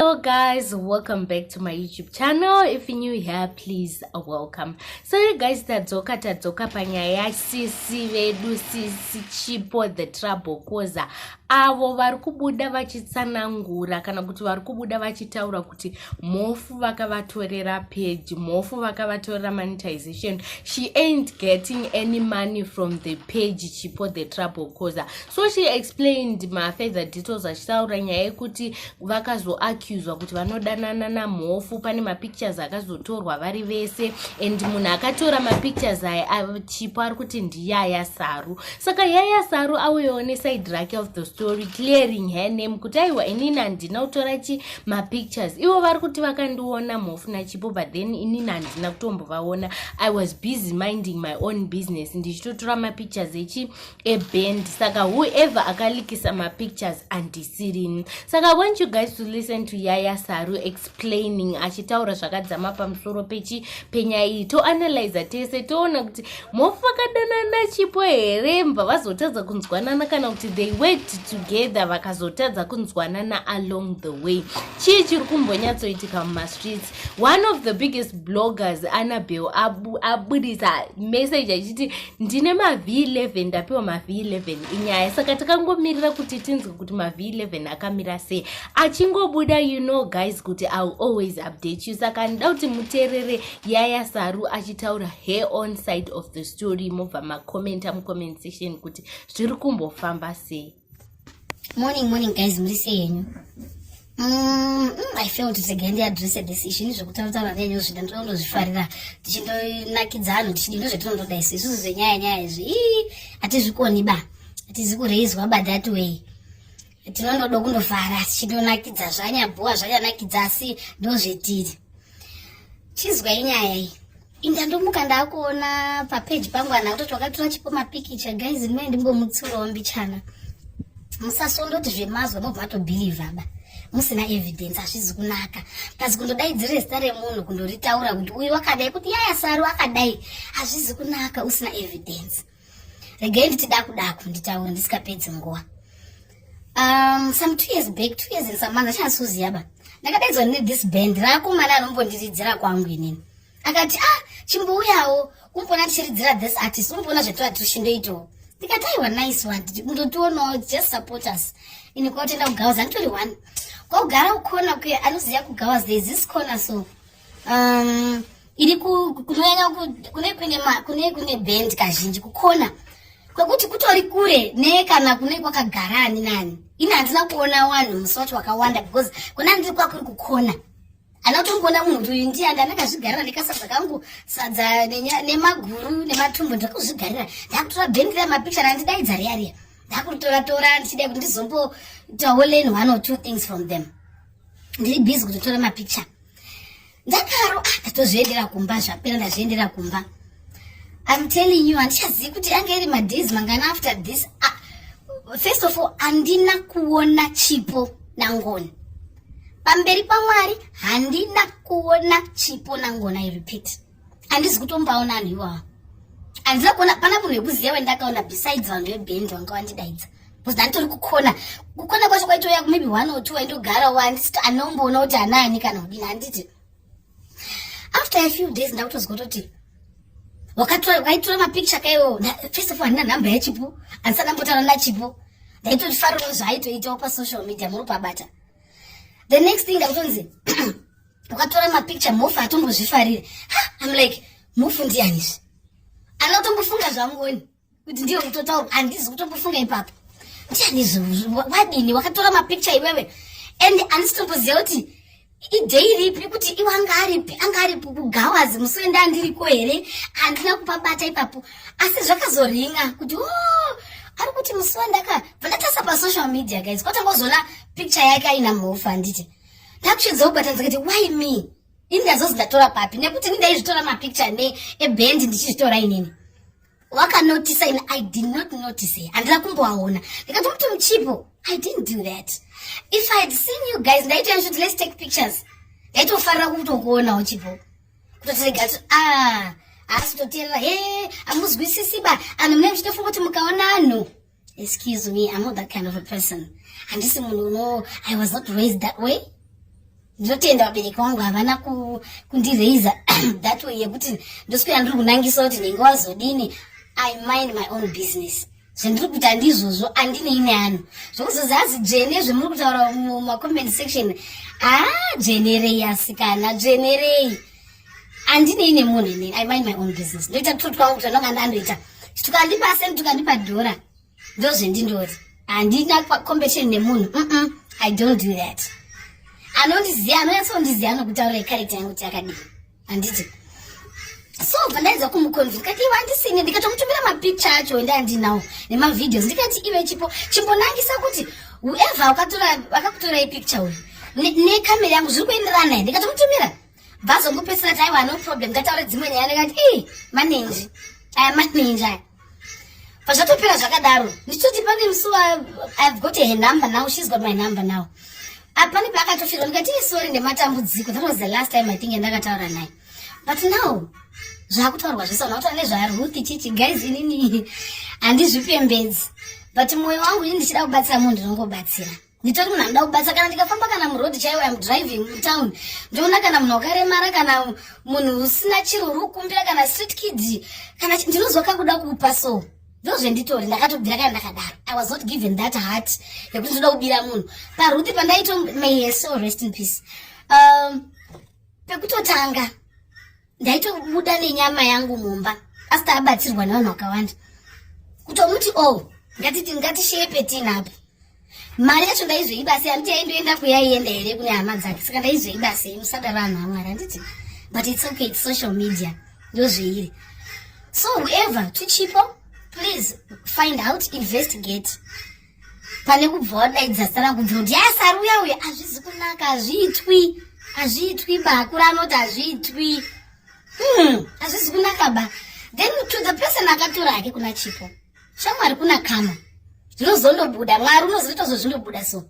Hello guys, welcome back to my YouTube channel. If you're new here, please uh, welcome. So you guys, tadzoka tadzoka panyaya sisi vedu sisi chipo the trouble causer avo vari kubuda vachitsanangura kana kuti vari kubuda vachitaura kuti mhofu vakavatorera page mhofu vakavatorera monetization she ain't getting any money from the page chipo the trouble causer so she explained mafeather details achitaura nyaya yekuti vakazoaccuswa kuti vanodanana namhofu pane mapictures akazotorwa vari vese and munhu akatora mapictures aya achipo ari kuti ndiyaya saru saka yaya saru auyewo neside rake of the story clearing her name kuti aiwa inini handina kutora chi mapictures ivo vari kuti vakandiona mhofu nachipo but then inini handina kutombovaona i was busy minding my own business ndichitotora mapictures echi a band saka whoever akalikisa mapictures andisirini saka want you guys to listen to yaya saru explaining achitaura zvakadzama pamusoro pechi penyaya iyi toanalyza tese toona kuti mofakadanana chipo here mva vazotadza kunzwanana kana kuti they worked together vakazotadza kunzwanana along the way chii chiri kumbonyatsoitika mumastreets one of the biggest bloggers anabel abudisa message achiti ndine mav 11 ndapiwa mav 11 inyaya saka takangomirira kuti tinzwe kuti mav 11 akamira sei achingobuda you know guys kuti ill always update you saka ndida kuti muteerere yaya saru achitaura her on side of the story mobva macommenta mucomment section kuti zviri kumbofamba sei Morning, morning guys, muri sei henyu? Mm, mm, I feel kuti regai ndiadresse this issue ini zvekutaurataura ndenyu zvida ndinoda kundozvifarira tichinonakidza anhu tichidi ndozvetinondoda isu isusu zvenyaya nyaya izvi ii hatizvikoni ba hatizi kureizwa ba that way tinondoda kundofara tichindonakidza zvanyabhuwa zvanyanakidza asi ndozvetiri chizwai nyaya iyi inga ndomuka ndakuona papeji pangu ana kutoti wakatora chipo mapikicha guys ndimene ndimbomutsurawo mbichana musasondoti zvemazwa mobva atobhilivha ba musina evidence hazvizi kunaka plus kundodaidzira zita remunhu kundoritaura kuti uyu wakadai kuti yaya saru akadai hazvizi kunaka usina evidence regai nditi daku daku nditaure ndisikapedzi nguva um, some two years back two years and some months achanasuziva ba ndakadaidzwa ne this band raakomana anombondiridzira kwangu inini akati ah chimbouyawo umbona tichiridzira this artist umbona zvetoa tirishindoitawo ndikati aiwa nice one ndotionawo just support us ini kwautenda kugawaza nditori one kwakugara ukona kuya anoziva kugawaza there is this corner so um, iri kunonyanya kune kune kune kune band kazhinji kukona kwekuti kutori kure ne kana kune kwakagara ani nani ini handina kuona wanhu musi wacho wakawanda because kuna ndiri kwakuri kukona ana kutongoona munhu kuti uyu ndiye andi anakazvigarira ndikasadza kangu sadza nemaguru nematumbu ndakuzvigarira ndakutora band riya mapichar andidaidza riya riya ndakuritora tora ndichida kuti ndizombotawo learn one or two things from them ndiri busy kutotora mapicture ndakaro ah, ndatozviendera kumba zvapera ndazviendera kumba I'm telling you handichazivi kuti ange iri madays mangani after this ah, first of all handina kuona chipo nangoni pamberi pamwari handina kuona chipo nangoni i repeat handizi kutombaona vanhu iwawa handina kuona pana munhu wekuziva wendakaona besides vanhu vebhendi vanga vandidaidza bcause ndanditori kukona kukona kwacho kwaitoya maybe one or two waindogara wansiti anomboona kuti anaani kana kudini handiti after a few days ndakutozwa kutoti wakaitora mapicture kaiwo first of all handina nhamba yachipo handisati ndambotaura nachipo ndaitoti fariro zvaitoitawo pasocial media muri pabata the next thing ndakutonzi wakatora mapicture mofa atombozvifarire am like mofu ndiyanizve anotombofunga zvangoni kuti ndiyo kutotaura handizi kutombofunga ipapo ndiyanizve wadini wakatora mapicture iwewe and handisitomboziva kuti idei ripi kuti iwe anga aripi anga aripi kugawazi musoenda andiriko here handina kupabata ipapo asi zvakazoringa kuti o oh, ari kuti musi wandaka vandatasa pasocial media guys kwatangozoona picture yake aina mhofu handiti ndakuchedzawo bata ndikati why me ini ndazozi ndatora papi nekuti ini ndaizvitora mapicture ne eband ndichizvitora inini wakanotisa ini i did not notice here handina kumboaona ndikati muti muchipo i didn't do that if i had seen you guys ndaitoya kuti let's take pictures ndaitofarira kutokuonawo chipo kutotirega kuti ah asi toteerera he amuzwisisi ba anhu mune muchitofunga kuti mukaona anhu Excuse me, I'm not that kind of a person. Handisi munhu uno, I was not raised that way. Ndinotenda vabereki wangu havana kundiraiza that way yekuti ndoswera ndiri kunangisa kuti ndinge wazodini. I mind my own business. zvandiri kuita ndizvozvo andinei neanhu zvokuzozi azi dzvene zvemuri kutaura mumacoment section haa ah, dzvenerei asikana dzvenerei andine ine munhu inini i mind my own business ndoita kututi kwangu kuti anonga ndandoita tukandipa sent tukandipa dhora ndozvendindoti handina competition nemunhu mm i don't do that anondiziva anonyatsondiziva nokutaura ikarekta yangu kuti akadii handiti so bva ndaedza kumuconvince kati iwe andisini ndikatomutumira mapicture acho ende andinawo nemavideos ndikati iwe chipo chimbonangisa kuti whoever akakutora ipicture uyu nekamera yangu zviri kuenderana here ndikatomutumira vazongopedzisira taiwa no problem ngataure dzimwe nyaya nekati ii manenji aya manenji aya pazvatopera zvakadaro ndichitoti pane musi ive got her number now shes got my number now apane paakatofirwa ndikati ii sori nematambudziko that was the last time i think yandakataura naye but now zvakutaurwa zvese ona kutaura nezvaruth chichi guys inini handizvipembedzi but mwoyo wangu ini ndichida kubatsira munhu ndinongobatsira nditori munhu anoda kubatsira kana ndikafamba kana muroad chaiwo im driving mutown ndoona kana munhu wakaremara kana munhu usina chiro uri kukumbira kana street kid kana ndinozwa kakuda kupa so ndozvenditori ndakatobvira kana ndakadaro i was not given that heart yekuti ndoda kubira munhu paruti pandaito may so rest in peace um, pekutotanga ndaitobuda nenyama yangu mumba asi taabatsirwa nevanhu vakawanda kutomuti o oh, ngatiti ngatishiye petini apo mari yacho ndaizoibasi handiti yaindoenda kuyaienda here kune hama dzake saka ndaizoibasi musadaro vanhu vamwari handiti but its okay its social media ndozveiri so whoever tuchipo please find out investigate pane kubva wadaidza sara kunzi kuti yasari uya uya hazvizi kunaka hazviitwi hazviitwi ba akura anoti hazviitwi hmm, hazvizi kunaka ba then to the person akatora hake kuna chipo shamwari kuna kama zvinozondobuda mwari unozoita zvo zvindobuda so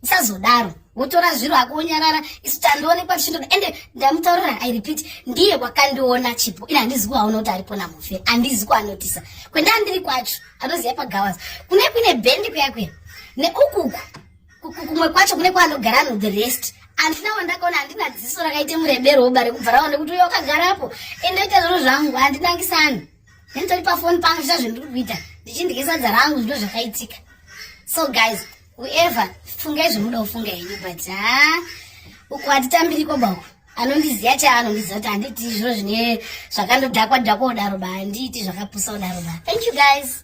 usazodaro wotora zviro ako wonyarara isu tandionekwa tichindoda ende ndamutaurira i repeat ndiye wakandiona chipo ini handizi kuaona kuti aripo namufe handizi kuanotisa kwenda andiri kwacho anoziva pagawas kune kuine bendi kuya kuya neukuku kumwe kwacho kune kwaanogara ano the rest handina wandakaona handina dziso rakaita murebero woba rekubva raone kuti uyo wakagarapo ende oita zviro zvangu handinangisani nenitori pafoni pangu zvicha zvendiri kuita ndichindigesadza rangu zvino zvakaitika so guys Whoever fungai zvomuda kufunga henyu but haa ah, uku hatitambiri koba uku anondiziva chaanondiziva kuti handiti zviro zvine zvakandodhakwa dhakwa kudaro ba handiiti zvakapusa kudaro ba thank you guys